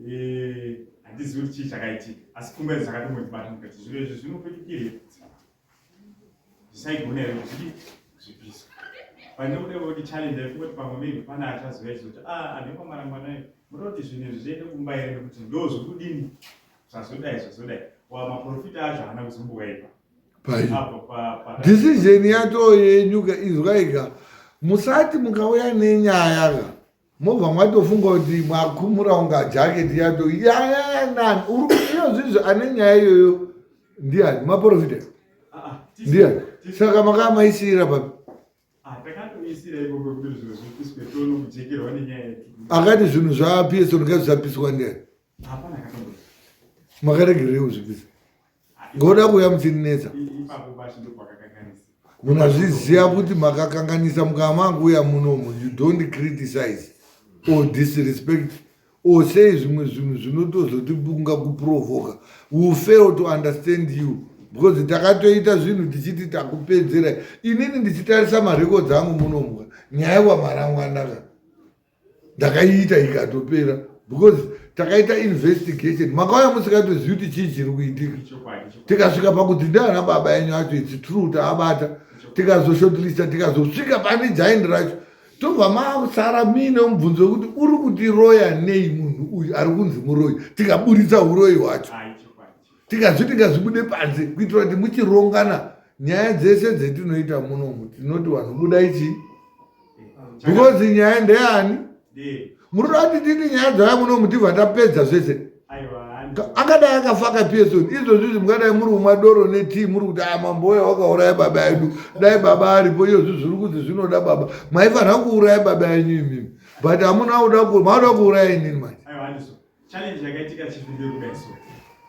eh, handizivi kuti chii chakaitika asi pfungwa idzo dzakatombondibata mukati zviro izvi zvinokutikire ndisaigona here kuzvipisa pandiri kuda kuti challenge ndaifunga kuti pamwe maybe pane achaziva ichi kuti ah ane kwamarangwanai munoti zvinhu izvi zviende kumba here nekuti ndo zvokudini zvazodai zvazodai wa maprofita acho haana kuzombowaipa decision yacho yenyuka izwaika musati mukauya nenyaya ka mobva mwatofunga kuti mwakumura unga jacket yato yayanan urikuiyozvizvo ane nyaya iyoyo ndiani maprofita ah, ah, ndiani saka makaa maisiira papi ah, akati zvinhu zvaapieso ndinga zvisapiswa ndiani makaregerei kuzvipisa ngoda kuuya muchinetsa munazviziva kuti makakanganisa mukava manguuya munomu you don't criticize or disrespect or say zvimwe zvinhu zvinotozotiunga kuprovoka will fail to understand you because takatoita zvinhu tichiti takupedzera inini ndichitarisa marekodzi angu munomu nyaya wamaramwanaka ndakaiita ikatopera because takaita investigation makauya musikatozivi kuti chii chiri kuitika tikasvika pakuti ndiana baba yenyu acho its true taabata tikazoshotlista tikazosvika pane jaini racho tobva masara muine mubvunzo wekuti uri kutiroya nei munhu uyu ari kunzi muroyi tikaburitsa uroyi hwacho tikazviti ngazvibude panze kuitira kuti muchirongana nyaya dzese dzetinoita munomu tinoti vanhu buda ichi because nyaya ndeyani munoda kuti titi nyaya dzava munomu tibva tapedza zvese akadai akafaka peson izvozvizvi mungadai muri umwa doro netii muri kuti a ah, mamboya wakauraya baba yedu dai baba aripo iyozvi zviri kuti zvinoda baba maifanira kuuraya baba yenyu imimi but hamuna kuda kuuraya inini manje Challenge yakaitika chief nderuka so.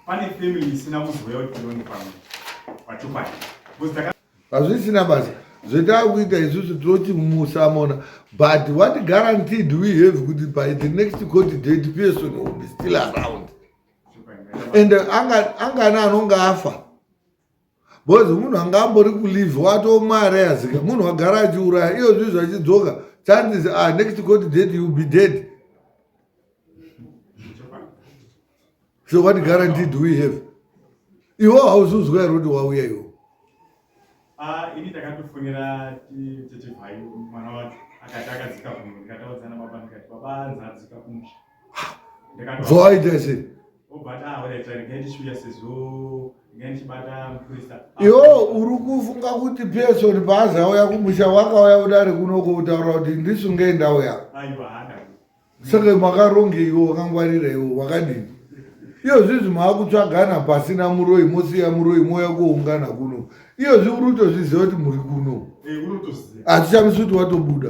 Pane family isina kuzoya kuti ndoni pamwe. Pachokwadi. Buzda hazvisina basa zvetakuita isusu tinoti musamona but what guarantee do we have kuti by the next court date person will be still around and uh, angana anonga afa bcoz munhu anga ambori kulive watomwa arayazika munhu wagara achiuraya iyo zvi zvachidzoka chances a ah, next cot date you be dead so what guarantee do we have iwo hauzuzwa here kuti wauya iwo ah, ini takatofonera titibhai mwana wacho akati akadzika kuno ndikataudzana baba ndikati baba anzi adzika kumusha ah, voaita sei Yo uri kufunga kuti Pearson paazauya kumusha wakauya kudari kuno kutaura kuti ndisungei ndauya saka makarongei iwo wakangwarira iwo wakadini iyo zvizi maakutsvagana pasina muroi mosiya muroi mouya kuoungana kuno iyo zvi uri kutozviziva kuti muri kuno hatichamisi eh, kuti watobuda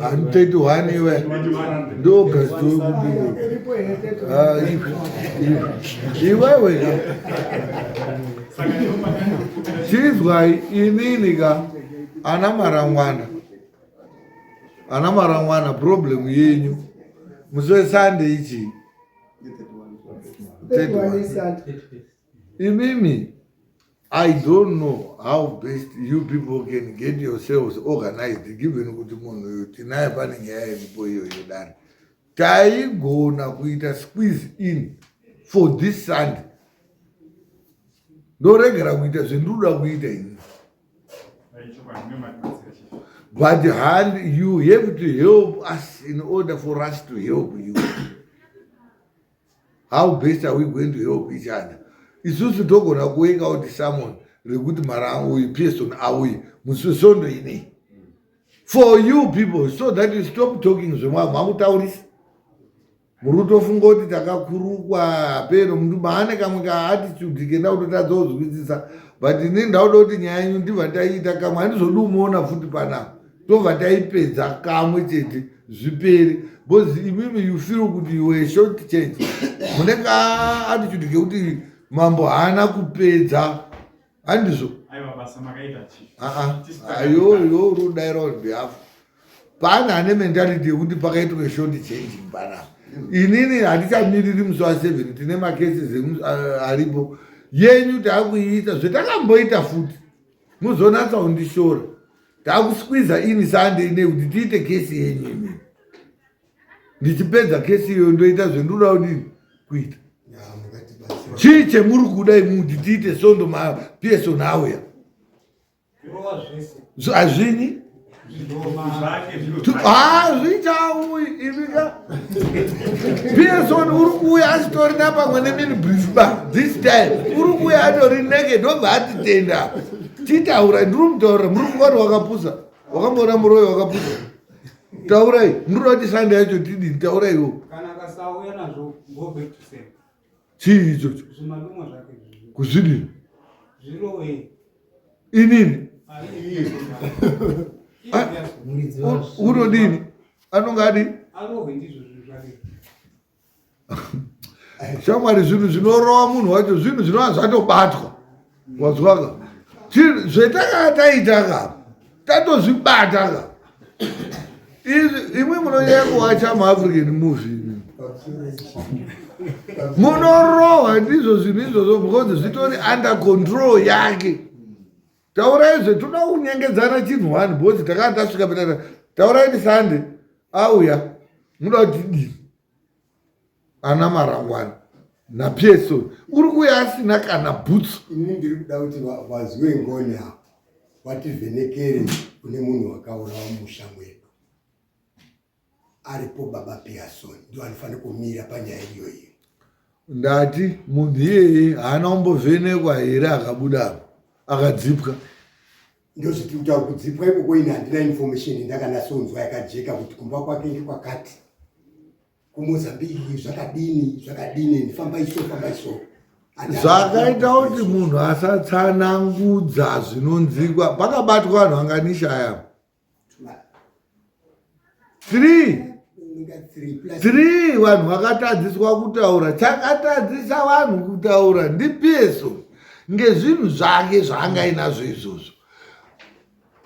Handithethi one iwe ndogasti iwewe ka chizwai inini ka ana marangwana ana marangwana problem yenyu musi wesande ichii Imimi I don't know how best you people can get yourselves organized given kuti munhu uyu tinaye pane nyaya iripo iyoyo dani taigona kuita squeeze in for this sunday ndoregera kuita zvendiroda kuita ini but hand you have to help us in order for us to help you how best are we going to help each other isusu togona kuweka out someone rekuti mara uyu pearson auyi muswesondo inei for you people so that you stop talking zvemwaa makutaurisa murutofunga kuti takakurukwa hapeno mndu maane kamwe kaattitude kenda kutotadza kuzwisisa but ini ndauda kuti nyaya yenyu ndibva taiita kamwe handizodi umuona futi panapa tobva taipedza kamwe chete zvipere bcause imimi you feel kuti you were short change mune kaattitude kekuti mambo haana kupedza handizvo ayoyo rudaira on behalf paana ane mentality yekuti pakaitwe short change mbana inini handichamiriri musi wa seven tine macases aripo yenyu taakuiita zvetakamboita futi muzonatsa undishora takusqueeza ini sande ine kuti tiite kesi yenyu imi ndichipedza kesi iyoyo ndoita zvendinoda kudini kuita chii chemuri kuda imi kuti tiite sondo mapeson auya hazvini hazvichauyi imika Pearson uri kuuya asitori na pamwe nemini brief ba this time uri kuuya atori neke ndobva atitenda titaura ndiri mutaurira muri kuvati wakapusa wakamboona muroyi wakapusa taurai ndiri kuti sande yacho tidini tauraiwo kana kasauya nazvo go back to same chii ichocho kuzvidini inini unodini anonga adi shamwari zvinhu zvinorova munhu wacho zvinhu zvinova zvatobatwa wazwaka zvetakanga taitaka tatozvibataka imwe munonyaya kuwacha muafrican movie munorohwa ndizvo zvinhu izvozvo because zvitori under control yake taurai zve toda kunyengedzana chinhu one bhozi takanga tasvika peta taurai ndi sunday auya muda kuti dii ana marangwana napieso uri kuya asina kana bhutsu ini ndiri kuda kuti vaziwe ngoni apo vativhenekere kune munhu wakaurawa musha mwedu aripo baba piason ndo anofanira kumira panyaya iyoyi ndati munhu iyeye haana kumbovhenekwa here akabudapo akadzipwa ndozviti kutaura kudzipwa ikoko ini handina information ndakanasonzwa yakajeka kuti kumba kwake ndekwakati kumozambique zvakadini zvakadini ndifamba iso famba iso zvakaita kuti munhu asatsanangudza zvinonzikwa pakabatwa vanhu vanganishaya three three vanhu vakatadziswa kutaura chakatadzisa vanhu kutaura ndipeso ngezvinhu zvake zvaanga inazvo izvozvo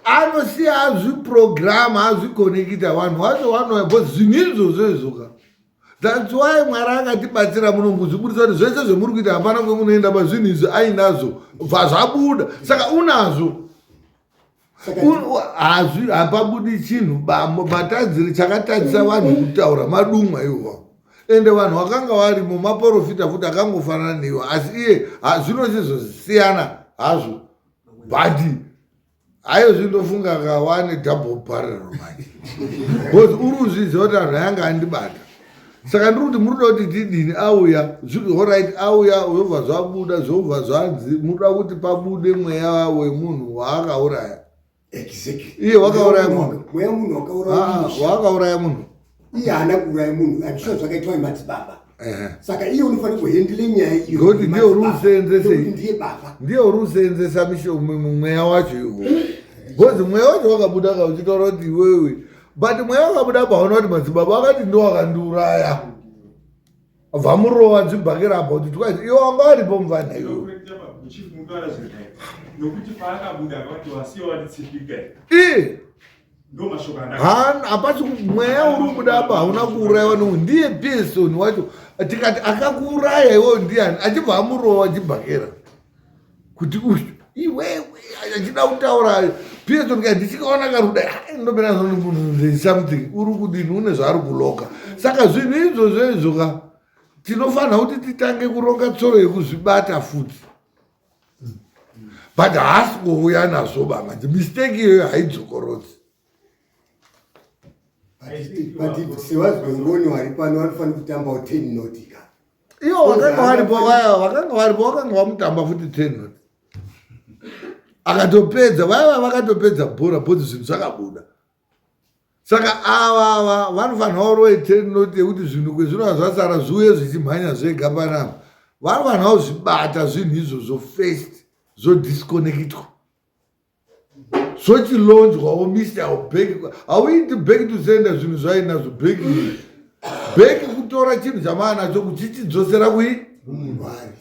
anosiya azviprograma azvikonekita vanhu vacho vanoya bo zvinhu izvozvo izvoka thats why mwari akatibatsira muno kuzvibudisa kuti zvese zvemuri kuita hapana kwemunoenda pazvinhu izvi ainazvo bva zvabuda saka unazvo hazvi hapabudi chinhu bamo batadziri chakatadzisa vanhu kutaura madumwa iwawo ende vanhu vakanga varimo maporofita futi akangofanana neiwo asi iye zvino chizosiyana hazvo bhadi hayo zvindofunga kawane double barrel manje bcause uri uzviziva kuti anhu ayanga andibata saka ndiri kuti muruda kuti didini auya zviri horit auya zvobva zvabuda zvobva zvanzi muruda kuti pabude mweya wemunhu waakauraya iye wakauraya munhu waakauraya ah, munhu iye haana kuuraya munhu andisva zvakaitwa nemadzibaba saka iye unofanira kuhendle nyaya iyooti ndiye uri useenzese ndiye baba ndiye uri useenzesa mweya wacho iwo bcoz mweya wacho wakabuda kauchitaura kuti iwewe but mweya wakabuda paona kuti madzibaba wakati ndo wakandiuraya vamurova dzibhakira apa kuti twaiti iwo wanga waripo mvana iyoyo hapasi mweya uri kubuda apa hauna kuuraiwa no ndiye pearson wacho tikati akakuuraya iwoyo ndiyani achibva amurova chibhakera kuti uyu iwewe achida kutaura pieto ndika ndichikaona karuda ndomira zvanhu something uri kudini une zvaari kuloka saka zvinhu izvozvo izvo ka tinofanira kuti titange kuronga tsoro yekuzvibata futi but haasi kuuya nazvo bamanje mistake iyoyo haidzokorodzi But if she was going on, you are required to find the number of 10 nautica. Iyo wakanga waripo vaya wakanga waripo wakanga wamutamba futi tenot akatopedza vaya vakatopedza bhora bhodzi zvinhu zvakabuda saka ava ava vanofanira kuroe tenot yekuti zvinhu kwezvinova zvasara zviuye zvichimhanya zvega panapa vanofanira kuzvibata zvinhu izvozvo first zvodisconnectwa zvochilonjwawo misi haubheki hauiti bheki tuzienda zvinhu zvainazvo bheki bheki kutora chinhu chamaa nacho kuchichidzosera kui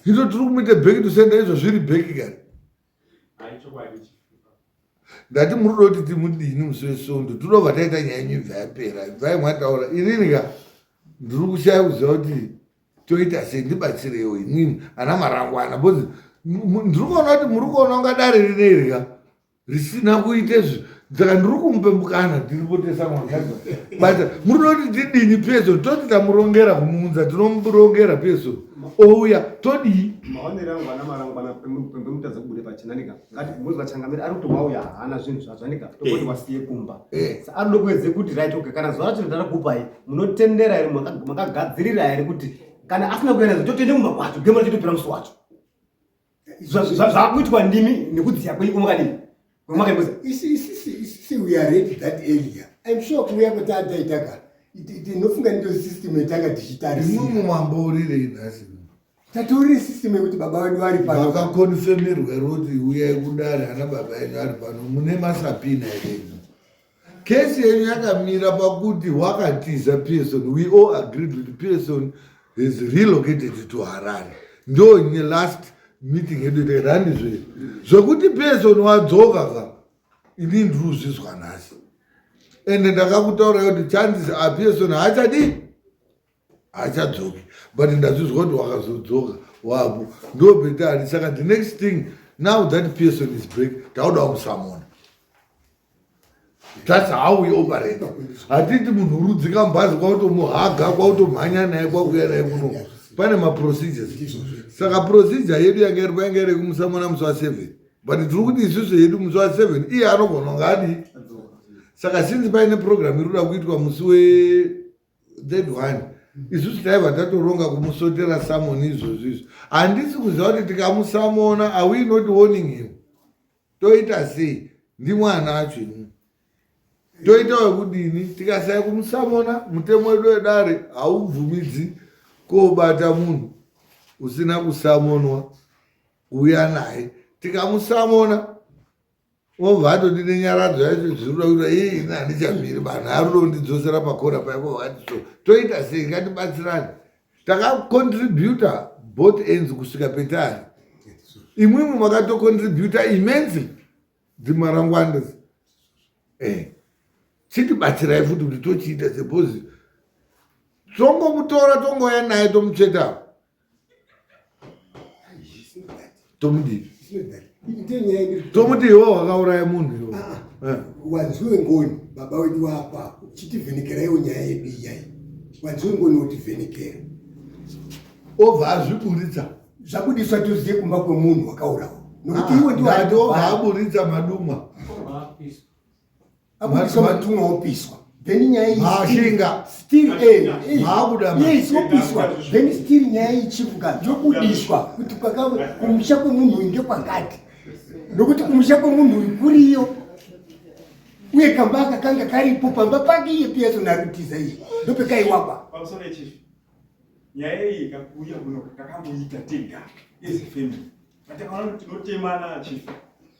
hito tiri kumuita bheki tusienda izvo zviri bheki kani ndati muri kuda kuti timudini musi wesondo tinova taita nyaya yenyu ibva yapera ibvai mwataura inini ka ndiri kushaya kuziva kuti toita sei ndibatsireiwo imwimwi ana marangwana bcause ndiri kuona kuti muri kuona unga dare rinerya risina kuite zvi saka ndiri kumupe mukana tiripotesa mwangaza but muri noti tidini pieso toti tamurongera kumuunza tinomurongera pieso ouya todii maonero angu ana marangwana pemutadza kubude pachena nika ngati mozi vachangamira ari kuti wauya haana zvinhu zvazvanika tokoti eh. wasiye kumba eh. ari ndokuedze kuti right okay kana zuva racho ndarakupai munotendera here makagadzirira here kuti kana asina kueredza totoende kumba kwacho gemura chitopera musi wacho zvakuitwa ndimi nekudziya kweiko makadini kwemakaimboza isisisi we are ready that earlier im sure kuuya kwetaataitaka ndinofunga ndiyo system yatanga tichitarisa imwimwe mambo urirei nhasi tatori system yekuti baba vedu vari pano vakakonfemerwa roti uyai kudare ana baba enyu ari pano mune masapina here Case yenyu yakamira pakuti wakatiza Pearson. We all agreed with Pearson is relocated to Harare. Ndo nye last meeting yedu terani zve. Zvekuti Pearson wadzoka ka ini ndiri kuzvizwa nhasi. Ende ndakakutaura kuti chances a Pearson haachadi. achadzoki but ndazvizwa kuti wakazodzoka wako ndo betari saka the next thing now that person is break tauda wamusamona thats how we operate hatiti munhu urudzika mubhazi kwautomuhaga kwautomhanya naye kwakuya naye kuno pane maprocedures saka procedure yedu yanga iri kwayanga iri kumusamona musi wa seven but tiri kuti isusu yedu musi wa seven iye anogona ngaadii saka since paine program iri kuda kuitwa musi we that one isusu taiva tatoronga kumusotera samoni izvozvo izvo handisi kuziva kuti tikamusamona awe not warning him toita sei ndimwana acho ini toita wekudini tikasai kumusamona mutemo wedu wedare haubvumidzi kobata munhu usina kusamonwa uya naye tikamusamona Obva atoti nenyaradzo yacho zvinoda kuita ii ini handichamiri vanhu arudo kundidzosera pakona paiko vakati so toita sei ngatibatsirani takacontributa both ends kusvika petari imwimwe makatocontributa immensely dzimarangwandas eh chitibatsirai futi kuti tochiita sepozi tongomutora tongouya naye tomutsvetawo tomudii tomuti iwo wakauraya munhu iwo ah, ah. eh. wanziwe ngoni baba wedu wapa chitivhenekeraiwo nyaya yedu iyai wanziwe ngoni wotivhenekera obva azviburitsa zvabudiswa toziye kumba kwemunhu wakaurawa nokuti ah, iwe ndiwo aburitsa madumwa matumwa opiswa then nyaya iyimashinga still eh, eh, maabuda yes opiswa then still nyaya ichivuka yobudiswa kuti kumusha kwemunhu uyu ndekwakati nokuti kumusha kwemunhu uyu kuriyo uye kamba kakanga karipo pamba pake iye piyaso narutiza iyi ndopekaiwakwa nyaya iyi kakuuya kuno takamboita tega as a family but takaona kuti tinotemana chief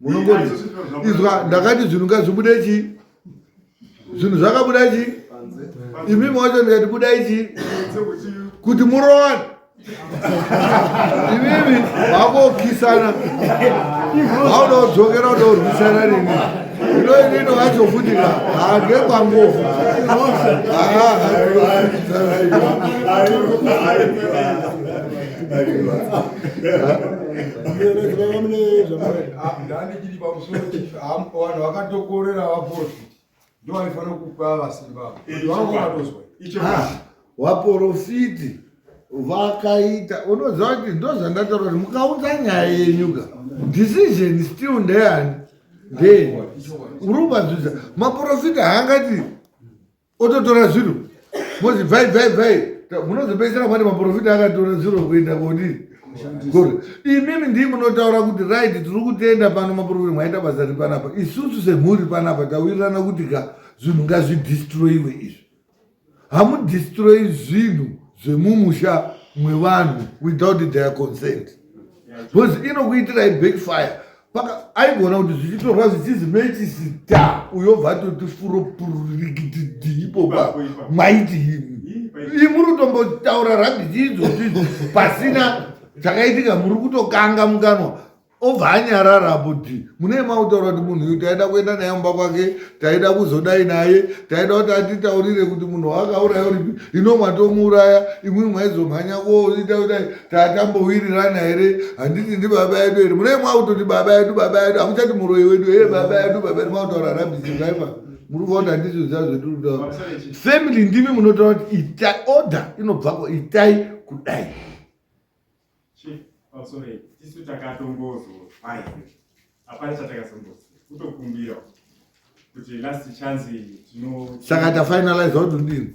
munongori izwa ndakati zvinhu ngazvibude chii zvinhu zvakabuda chii imimi wacho ndikati budai chii kuti murowane imimi vakokisana vauda kudzokera kuda kurwisana rini ino inino vacho futi ka hage kwangofu ndandikiri pamusoro vanhu vakatokorera vaporofiti ndo vaifanira kupa vasimba vanga vatozwa vaporofiti vakaita unoziva kuti ndo zvandataura kuti mukaunza nyaya yenyuka decision still ndeyani ndee urubadzudza maporofita haangati ototora zvinhu mozi bvai bvai bvai munozopedzisira mati maprofita akatora zvinhu kuenda kodi gore imimi ndii munotaura kuti right tiri kutenda pano maprofita mwaita basa ri panapa isusu semhuri panapa tawirirana kuti ka zvinhu ngazvidistroyiwe izvi hamudistroyi zvinhu zvemumusha mwevanhu without their consent because inokuitirai backfire paka aigona kuti zvichitorwa zvichizi mechisi ta uyobva toti furo pururikitidi ipopa maiti imi ii muri kutombotaura rabhiti idzozvizi pasina chakaitika muri kutokanga mukanwa obva anyarara apo ti mune mautaura kuti munhu uyu taida kuenda naye mumba kwake taida kuzodai naye taida kuti atitaurire kuti munhu waakauraya uripi ino mwatomuuraya imwimwe maizomhanya koita kudai tatambowirirana here handiti ndi baba yedu here munee mwakutoti baba yedu baba yedu hakuchati muroyi wedu hee baba yedu baba yedu mwakutaura rabizizaipa muri kuona handizvizva zvetinotaura family ndimi munotaura kuti itai order inobvako itai kudai isu takatongozovaya hapana chatakazombozi kutokumbira kuti last chance tino saka tafinalize wati ndini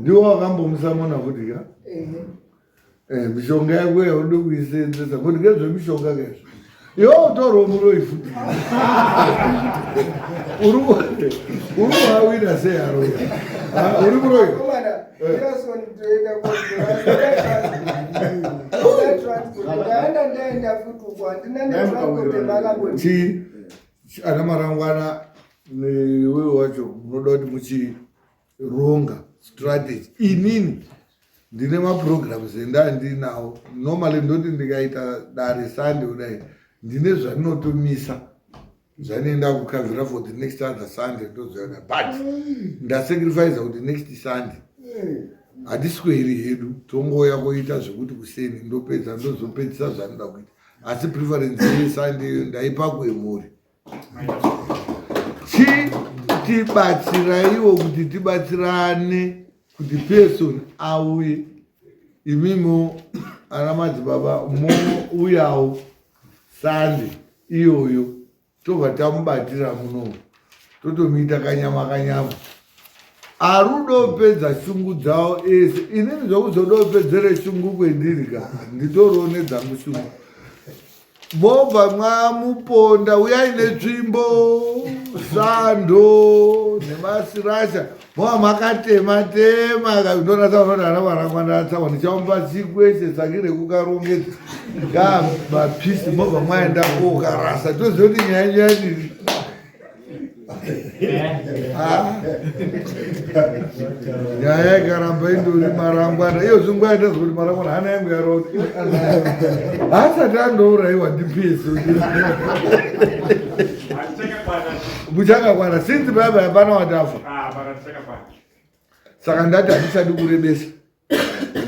ndiwo vakambomisa mwana kudya eh, mishonga yako yaude kuisenzesa kuti ngezvemishonga kezvo yo utorwa muroi futi uri kuhawina seyaroya ah, uri muroi chii ana marangwana Iwewe wacho unoda kuti muchironga strategy inini ndine maprograms endaa ndiinawo normally ndoti ndikaita dare sande kudai ndine zvandinotomisa zvanoenda kukavhira for the next other sunday ndozoona but ndasacrifice kuti next sunday hatisweri hedu tongouya koita zvekuti kuseni ndopedza ndozopedzisa zvanoda kuita asi preference yesunday iyo ndaipa kuemhuri chi tibatsiraiwo kuti tibatsirane kuti person auye imimo ana madzibaba mouyawo sande iyoyo tobva tamubatira muno totomuita kanyama kanyama arudopedza shungu dzawo ese inini zvokuzodopedzere shungu kwendiri ka nditoriwo nedzangu shungu mobva mwamuponda uyai netsvimbo sando nemasirasha mova makatema tema ndonasa vanodana varangwandatsawa ndichaumba tsiku ese tsaki rekukarongedza ngaa mapisi mobva mwaenda kokarasa toziva kuti nyaya nyaya ndiri nyaya ikaramba indori marangwana iyo zvinguva yandazwa kuti marangwana hana yangu yarota haasati andourayiwa ndipeso muchakakwana since baba hapana watafa saka ndati handisadi kurebesa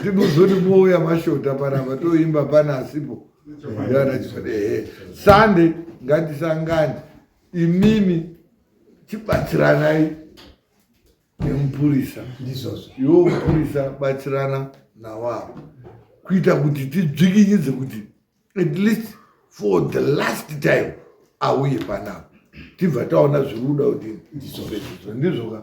ndinozoti mouya mashota panapa toimba pana asipo ehe sunday ngatisangane imimi tibatsiranai nemupurisa ndizvozvo iwo mupurisa batsirana nawavo kuita kuti tidzvikinyidze kuti at least for the last time auye panapa tibva taona zviri kuda kuti ndizvozvo ndizvoka